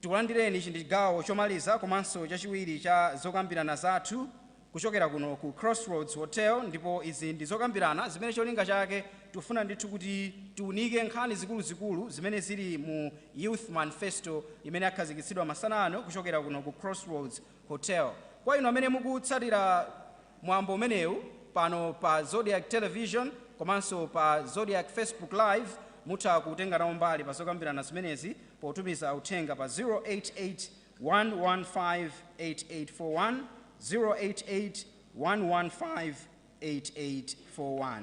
Tikulandireni, ichi ndi chigawo chomaliza komanso chachiwiri cha zokambirana zathu kuchokera kuno ku Crossroads Hotel ndipo izi ndi zokambirana zimene cholinga chake tikufuna ndithu kuti tiunike nkhani zikuluzikulu zimene zili mu Youth Manifesto imene yakhazikitsidwa masana ano kuchokera kuno ku Crossroads Hotel. Kwa inu amene mukutsatira mwambo umenewu pano pa Zodiak Television komanso pa Zodiak Facebook Live mutha kutenga nawo mbali pa zokambirana zimenezi potumiza uthenga pa 0881158841, 0881158841.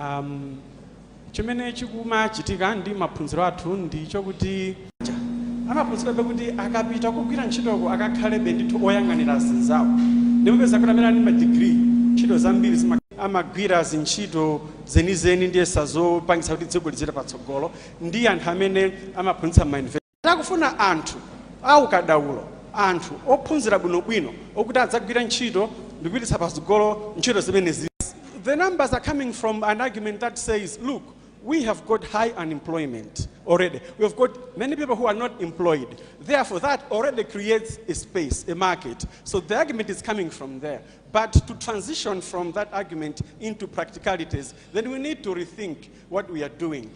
um, chimene chikumachitika ndi maphunziro athu ndi chokuti amaphunzirabe kuti akapita kugwira ntchitoko akakhalebe ndithu oyang'anira zinzawo nde mupeza kuti amene ali madigiri ntchito zambiri zima amagwira zintchito zenizenidi zija zopangisa kuti dziko lizipita patsogolo ndi anthu amene amaphunzitsa ma Takufuna anthu a ukadaulo, anthu ophunzira bwinobwino okuti adzagwire ntchito ndikupititsa patsogolo ntchito zimenezi. The numbers are coming from an argument that says, look, we have got high unemployment already, we have got many people who are not employed, therefore that already creates a space, a market. So the argument is coming from there. But to transition from that argument into practicalities, then we need to rethink what we are doing.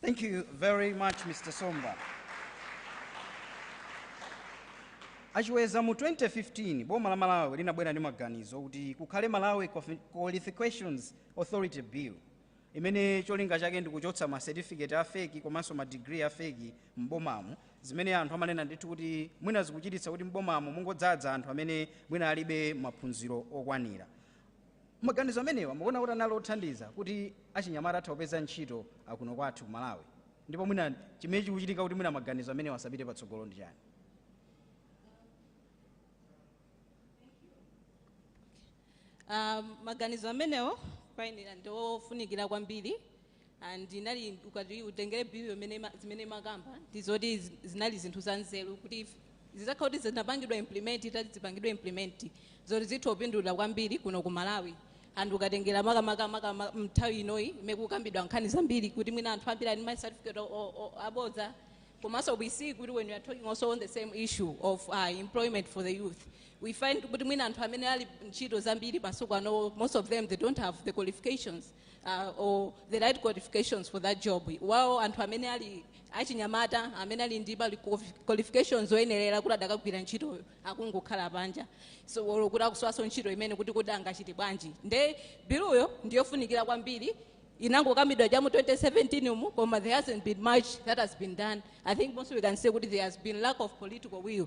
Thank you very much, Mr. Somba. Achiweza mu 2015 boma la Malawi linabwera ndi maganizo kuti kukhale Malawi Quali- Qualifications Authority Bill imene cholinga chake ndi kuchotsa ma certificate a fake komanso ma degree a fake m'bomamu zimene anthu amanena ndithu kuti mwina zikuchititsa kuti m'bomamu mungodzadza anthu amene mwina alibe maphunziro okwanira. Maganizo amenewa mukuona kuti anali othandiza kuti achinyamata atha kupeza ntchito akuno kwathu ku Malawi? Ndipo mwina chimene chikuchitika kuti mwina maganizo amenewa asapite patsogolo ndi chani? Ah, maganizo amenewo kwa ine ndi ofunikira kwambiri. and ndinali ukati utengere bill imene ima- zimene imakamba ndi zoti zi- zinali zinthu za nzeru kuti if- zitakhala kuti zinapangidwa implement itati zipangidwe implement ndi zoti zitha kupindulira kwambiri kuno ku malawi and ukatengera makamakamaaka mnthawi inoyi imene kukambidwa nkhani zambiri kuti mwina anthu ambiri ali ndi ma certificate o- o- o- abodza komanso we see kuti when we are talking also on the same issue of uh, employment for the youth we find kuti mwina anthu amene ali ntchito zambiri masiku ano most of them they don't have the qualifications uh, or the right qualifications for that job while anthu amene ali achinyamata amene ali ndi ma qualifications oyenerera kuti adakagwira ntchitoyo akungokhala panja so or kuti akusowanso ntchito imene kuti kuti angachite bwanji nde biluyo ndiyofunikira kwambiri inangokambidwa cha mu 2017 umu koma there hasn't been much that has been done i think komanso we can say kuti there has been lack of political will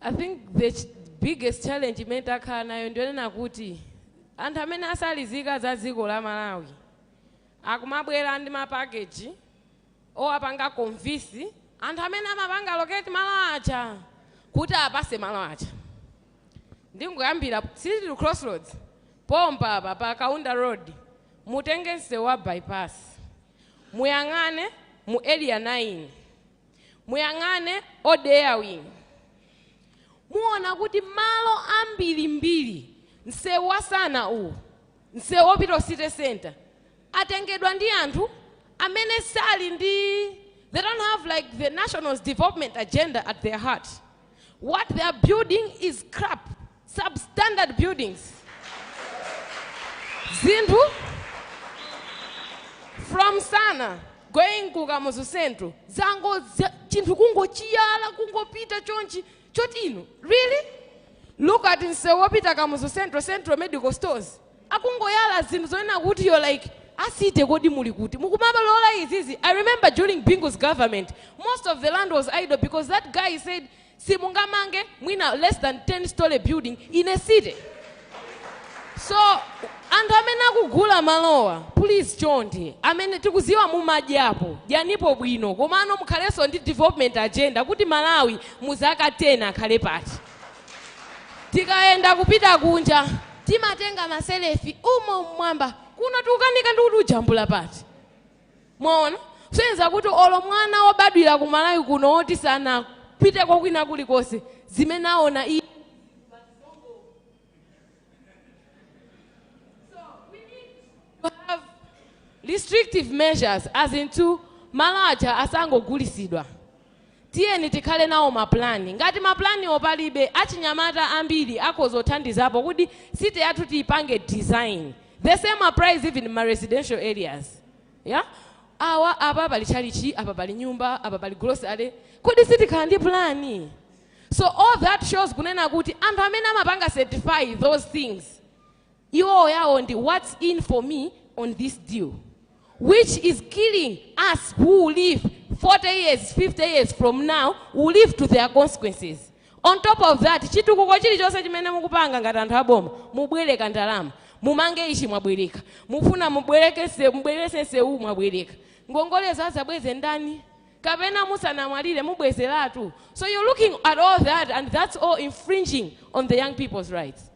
I think the ch biggest challenge imene takhala nayo ndiyonena kuti anthu amene asali zika za dziko la Malawi akumabwera ndi ma package owapanga convince anthu amene amapanga locate malo aja kuti awapase malo aja. Ndingoyambira City, crossroads pompa apa pa Kaunda road mutenge msewu wa bypass muyang'ane mu area 9. Muyang'ane all the way in. Muona kuti malo ambirimbiri msewu wa Sana uwu msewu opita ku city centre atengedwa ndi anthu amene sali ndi they don't have like the national development agenda at their heart. What they are building is crap. substandard buildings zinthu from Sana going ku kamuzu central zango za- chinthu kungochiyala kungopita chonchi choti inu really look at msewu wopita kamuzu central central medical stores akungoyala zinthu zonena kuti you like a city kodi muli kuti mukumabalola izizi i remember during Bingu's government most of the land was idle because that guy said simungamange mwina less than 10 story building in a city so anthu amene akugula malowa please chonde amene tikuziwa mumadyapo dyanipo bwino komano mukhalenso ndi development agenda kuti malawi muzaka 10 akhale pati tikayenda kupita kunja timatenga ma selfie umo mmwamba kuno tikukanika ndikuti ujambula pati Mwaona? Kusonyeza kuti olo mwana wobadwira ku Malawi kuno woti sanapiteko kwina kulikonse, zimene aona iye ndi zili bwino basi, zongowona. So we need to have restrictive measures as in to malo aja asangogulisidwa. Tiyeni tikhale nawo ma plan. Ngati ma plan-wo palibe, achinyamata ambiri akhoza kuthandizapo kuti city yathu tiyipange design the same applies even mma residential areas yeah awa apa pali tchalitchi apa pali nyumba apa pali grocery kodi sitikhala ndi plan? So all that shows kunena kuti anthu amene amapanga certify those things iwowo yawo ndi whats in for me on this deal which is killing us who'll live 40 years 50 years from now will live to their consequences on top of that chitukuko chilichonse chimene mukupanga ngati anthu aboma mubwereka ndalama mumange ichi mwabwereka mufuna mubwerekese mubwerese nsewu mwabwereka ngongolezo azabweze ndani kapena musanamwalire mubwezeratu so you're looking at all that and that's all infringing on the young people's rights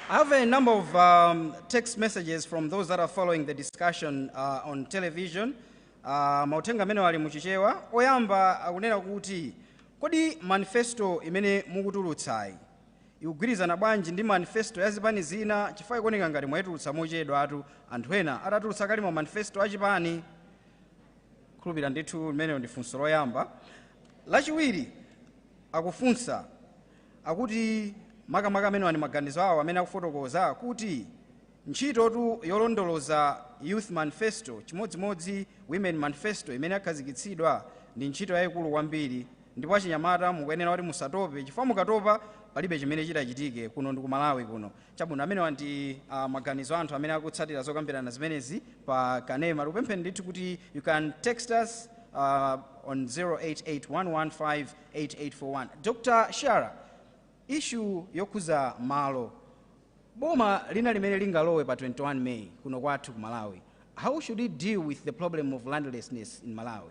I have a number of um, text messages from those that are following the discussion uh, on television. Uh, mauthenga amenewa ali muchichewa oyamba akunena kuti kodi manifesto imene mukutulutsayi ikugwirizana bwanji ndi manifesto ya zipani zina chifukwa ikuoneka ngati mwayitulutsa mochedwatu anthu ena atatulutsa kale ma manifesto a chipani khulupirira ndithu limenelo ndi funso loyamba lachiwiri akufunsa akuti makamaka amenewa ndi maganizo awo amene akufotokoza kuti ntchitotu yolondoloza youth manifesto chimodzimodzi women manifesto imene yakhazikitsidwa ndi ntchito yayikulu kwambiri ndipo achinyamata mukuyenera kuti musatope chifukwa mukatopa palibe chimene chitachitike kuno ndi ku malawi kuno Chabwino, amenewa ndi maganizo a anthu amene akutsatira zokambirana zimenezi pa kanema. Tikupempheni ndithu kuti you can text us uh, on 0881158841. Dr. Shara, issue yokhuza malo, boma lina lililonse limene lingalowe pa 21 May kuno kwathu ku Malawi, how should it deal with the problem of landlessness in Malawi?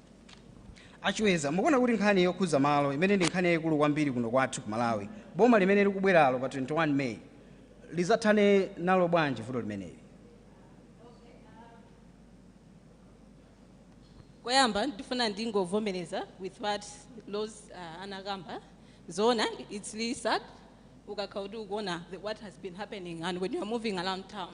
A Chiweza, mukuona kuti nkhani yokhudza malo imene ndi nkhani yayikulu kwambiri kuno kwathu ku Malawi, boma limene likubweralo pa 21 May lizathane nalo bwanji vuto limeneli? Koyamba ndifuna ndingovomereza with what Rose uh, anakamba zoona it's really sad ukakhala kuti ukuona the- what has been happening and when you are moving around town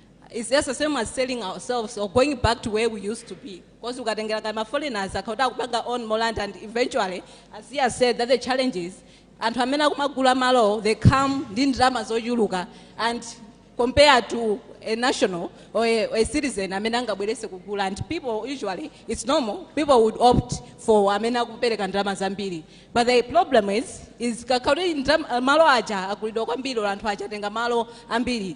It's just the same as selling ourselves or going back to where we used to be. Because we got ngati ma foreigners akayamba kupanga own more land and eventually as she has said that the challenge is anthu amene akumagula malo they come ndi ndalama zochuluka and compared to a national or a, a citizen amene angabwere kuzagula and people usually it's normal people would opt for amene akupereka ndalama zambiri but the problem is kukakhala kuti ndalama- malo aja agulidwa kwambiri or anthu aja atenga malo ambiri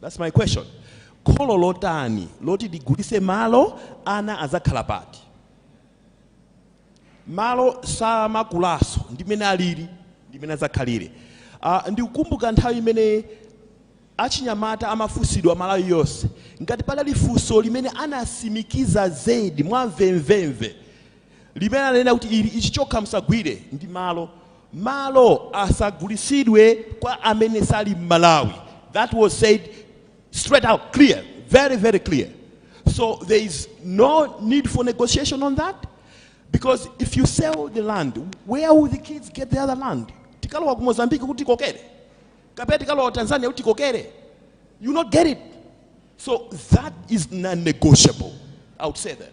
That's my question. Kholo lotani loti ligulise malo ana azakhala pati? Malo samakulaso ndimene alili ndimene azakhalire. Uh, ah, ndikukumbuka nthawi imene achinyamata amafunsidwa Malawi yonse ngati padali funso limene anasimikiza zedi mwamvemvemve limene ananena kuti ayi ichi chokha msagwire ndi malo Malo asagulitsidwe kwa amene sali mmalawi that was said straight out clear very very clear so there is no need for negotiation on that because if you sell the land where will the kids get the other land tikalowa ku mozambique kuti kokere kapena tikalowa tanzania kuti kokere you not get it so that is non-negotiable i would say that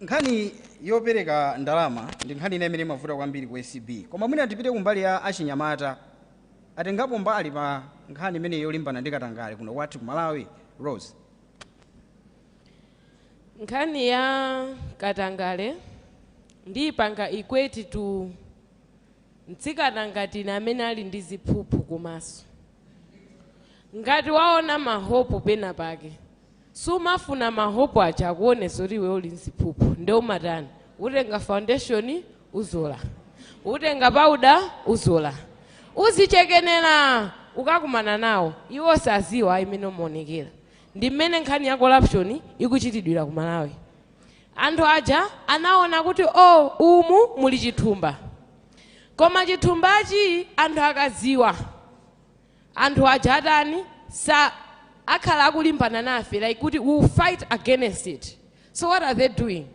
Nkhani yopereka ndalama ndi nkhani ina imene imavuta kwambiri ku acb koma mwina tipite kumbali ya achinyamata atengapo mbali pa nkhani imeneyi yolimbana ndi katangale kuno kwathu ku Malawi? Rose. Nkhani ya katangale ndiipanga equate to mtsikana ngati ine amene ali ndi ziphuphu kumaso. Ngati waona ma hope pena pake Sumafuna ma hope aja akuone kuti iwe uli nziphuphu nde umatani? Utenga foundation uzola. Utenga powder uzola. Uzichekenera! Ukakumana nawo, iwo saziwa ayi mmene umaonekera. Ndi mmene nkhani ya corruption ikuchitidwira ku Malawi. Anthu aja anaona kuti oh umu muli chithumba. Koma chithumbachi anthu akaziwa. anthu aja atani sakhala akulimbana nafe like kuti we will fight against it so what are they doing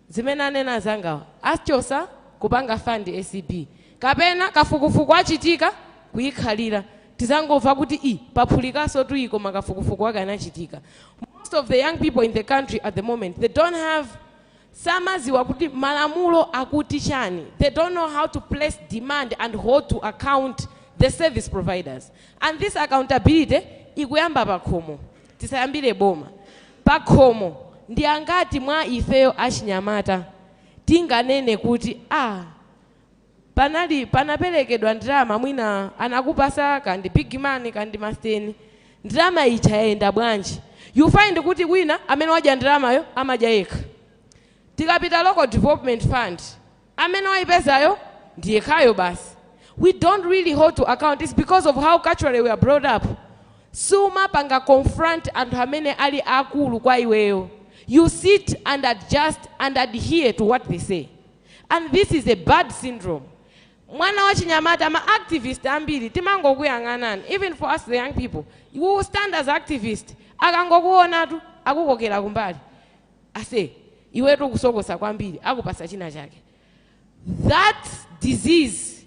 zimene anena anzangawa achosa kupanga fund acb kapena kafukufuku achitika kuikhalira tizangomva kuti ih paphulikanso tuyi koma kafukufuku wake anachitika most of the young people in the country at the moment they don't have samaziwa kuti malamulo akuti chani they don't know how to place demand and hold to account the service providers and this accountability ikuyamba pakhomo tisayambire boma pakhomo ndi angati mwa ifeyo achinyamata tinganene kuti aah panali panaperekedwa ndalama mwina anakupasa kaya ndi big money kaya ndi masteni ndalama ija yayenda bwanji you find kuti wina amene wadya ndalamayo amadya yekha tikapita local development fund amene wayipezayo ndi yekhayo basi we don't really hold to account it's because of how culturally we are brought up sumapanga confront anthu amene ali akulu kwa iweyo you sit and adjust and adhere to what they say and this is a bad syndrome mwana wachinyamata ma activist ambiri timangokuyang'anani even for us the young people you will stand as activist akangokuonatu akukokera kumbali ase iwetu ukusokosa kwambiri akupasa china chake that disease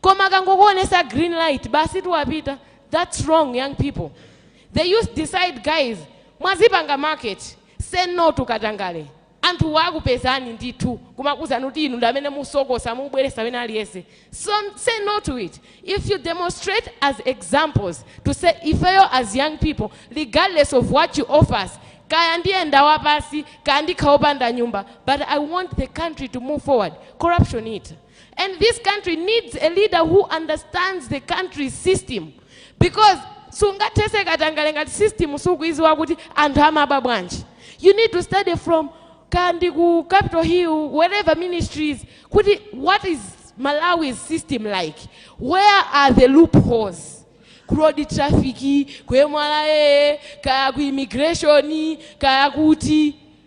koma akangokuonesa green light basitu wapita that's wrong young people the youth decide guys mwazipanga market say no to katangale anthuwa akupezani ndithu kumakuuzani kuti inu ndi amene musokosa mubweresa wina aliyense so say no to it if you demonstrate as examples to say ifeyo as young people regardless of what you offer us kaya ndiyenda wapasi kaya ndikhala opanda nyumba but i want the country to move forward corruption it And this country needs a leader who understands the country's system because sungathese katangale ngati system sukuiziwa kuti anthu amaba bwanji you need to study from kandi ku capital hill whatever ministries kuti what is malawi's system like where are the loopholes ku road traffic kwemwala ee kaya ku immigration kaya kuti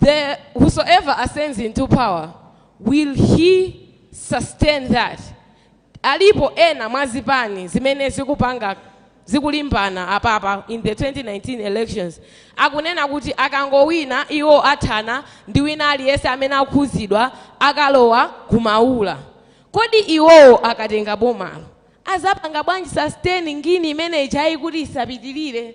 The whosoever ascends into power will he sustain that alipo ena mwa zipani zimene zikupanga zikulimbana apapa in the 2019 elections akunena kuti akangowina iwo athana ndi wina aliyense amene akhuzidwa akalowa kumaula kodi iwowo akatenga bomalo azapanga bwanji sustain ngini imene ijayi kuti isapitirire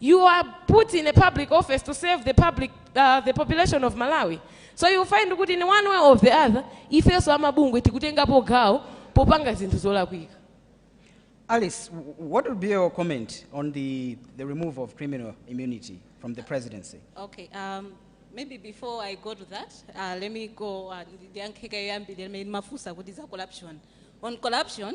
you are put in a public office to serve the public uh, the population of malawi so you find kuti in one way or the other ifenso amabungwe tikutengapo gawo popanga zinthu zolakwika Alice, w- what would be your comment on the, the removal of criminal immunity from the presidency? Okay, um, maybe before I go to that, uh, let me go and ndiyankhe kaye yoyambirira imene mafunsa kuti za corruption. On corruption,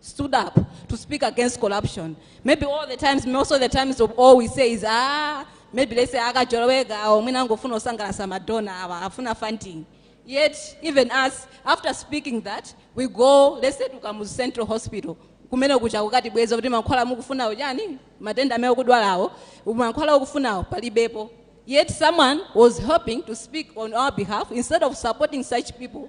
stood up to speak against corruption. Maybe all the times, most of the times, of all we say is, ah, maybe they say, akajoloweka, or mwina angofuna osangalasa madonna, awa, afuna funding. Yet, even us, after speaking that, we go, let's say, to Kamuzu Central Hospital. kumene kucha kukati bweza kuti mankhwala mukufunawo chani matenda amene okudwalawo mankhwala okufunawo palibepo yet someone was hoping to speak on our behalf instead of supporting such people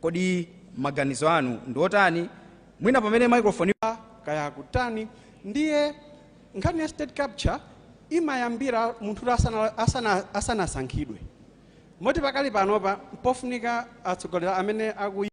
Kodi maganizo anu ndi otani? Mwina pamene microphone yu. kaya akutani. Ndiye nkhani ya state capture imayambira munthutu asana asana asanasankhidwe. Moti pakali panopa mpofunika atsogoleri amene akuy.